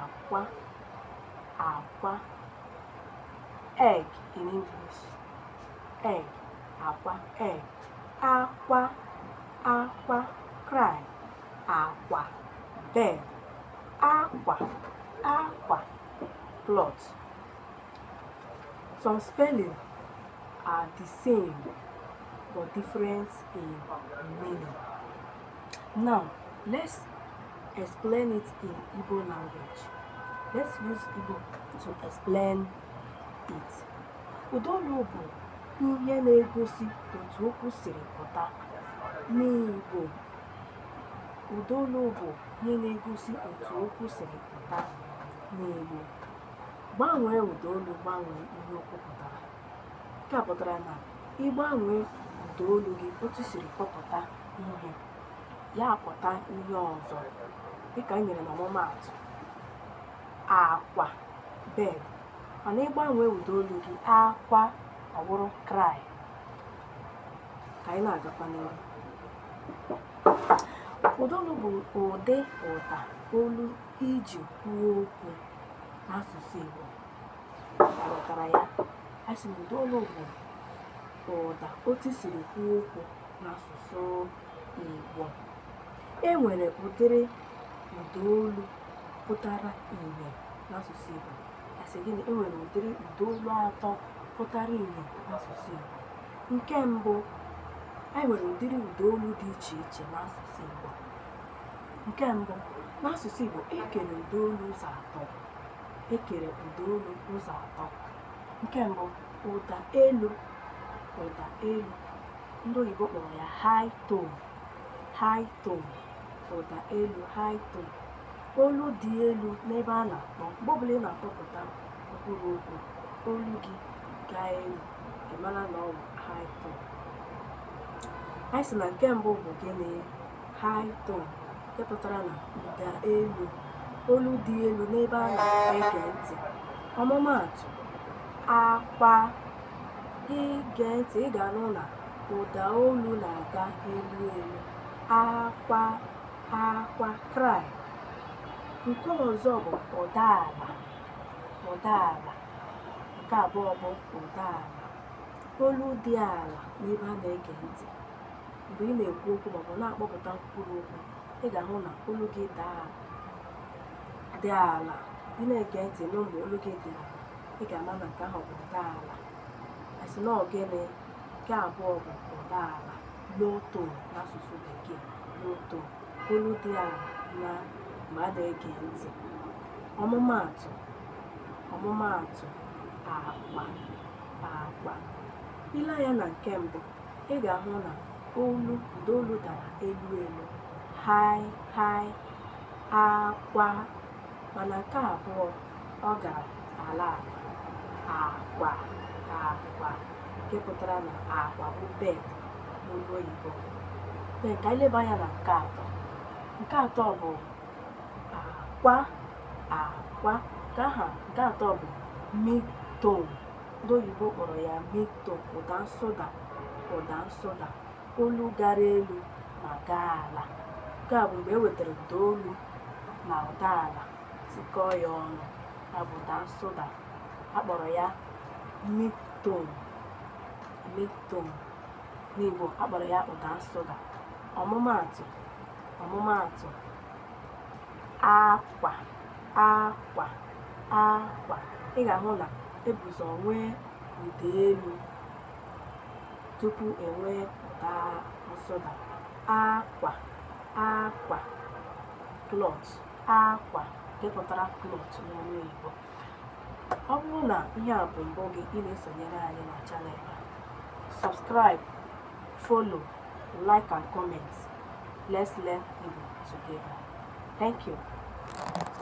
akwa akwa egg in English egg akwa egg akwa akwa cry akwa bed akwa akwa cloth some spelling are the same but different in meaning now let's Explain it in Igbo language. Let's use Igbo to explain it. Ụdaolu bụ ihe na-egosi otu okwu siri pụta n'Igbo. Ụdaolu bụ ihe na-egosi otu okwu siri pụta n'Igbo. Gbanwee ụdaolu gbanwee ihe okwu pụtara. Nke a pụtara na ị gbanwee ụdaolu gị otu siri kpọpụta ihe. ya apụta ihe ọzọ dịka e nyere n'ọmụmaatụ akwa bed mana ị gbanwee ụda olu gị akwa ọ bụrụ cry ka anyị na-agakwa n'ihu ụda olu bụ ụdị ụda olu i ji kwuo okwu n'asụsụ Igbo a ghọtara ya a sị na ụda olu bụ ụda otu siri kwuo okwu n'asụsụ Igbo. E nwere ụdịrị ụda olu pụtara ìhè n'asụsụ Igbo. A sị gịnị? E nwere ụdịrị ụda olu atọ pụtara ìhè n'asụsụ Igbo. Nke mbụ, anyị nwere ụdịrị ụda olu dị iche iche n'asụsụ Igbo. Nke mbụ, n'asụsụ Igbo, e kere ụda olu ụzọ atọ. E kere ụda olu ụzọ atọ. Nke mbụ, ụda elu ụda elu ndị oyibo kpọrọ ya high tone high tone ụda elu high tone olu dị elu n'ebe a na-akpọ mgbe ọbụla ị na-akpọpụta mkpụrụ okwu olu gị gaa elu ị mara na ọ bụ high tone anyị sị na nke mbụ bụ gịnị high tone nke pụtara na ụda elu olu dị elu n'ebe a na-ege ntị ọmụmaatụ akwa i gee ntị ị ga-anụ na ụda olu na-aga elu elu akwa akwa cry nke ọzọ bụ ụda ala ụda ala nke abụọ bụ ụda ala olu dị ala n'ebe a na-ege ntị mgbe ị na-ekwu okwu maọbụ na-akpọpụta mkpụrụ okwu ị ga-ahụ na olu gị ga-adị ala ị na-ege ntị nụ mgbe olu gị dị ala ị ga-ama na nke ahụ bụ ụda ala asị na ogene nke abụọ bụ ụda ala low tone n'asụsụ bekee low tone olu dị ala na mgbe a na-ege ntị ọmụmaatụ ọmụmaatụ akwa akwa ị lee anya na nke mbụ ị ga-ahụ na olu ụda olu dara elu elu high high akwa mana nke abụọ ọ gara ala akwa akwa nke pụtara na akwa bụ bed n'olu oyibo ka anyị leba anya na nke atọ nke atọ bụ akwa akwa nke aha nke atọ bụ mid-tone ndị oyibo kpọrọ ya mid-tone ụda nsụda ụda nsụda olu gara elu ma gaa ala nke a bụ mgbe e wetara ụda elu na ụda ala tikọọ ya ọnụ ya bụ ụda nsụda a kpọrọ ya mid-tone mid-tone n'Igbo a kpọrọ ya ụda nsụda ọmụmaatụ ọmụmaatụ akwa akwa akwa ị ga-ahụ na e bu ụzọ nwee ụda elu tupu e nwee ụda nsụda akwa akwa cloth akwa nke pụtara cloth n'ọnụ oyibo ọ bụrụ na ihe a bụ mbụ gị ị na-esonyere anyị na channel a subscribe follow like and comment let's learn Igbo together thank you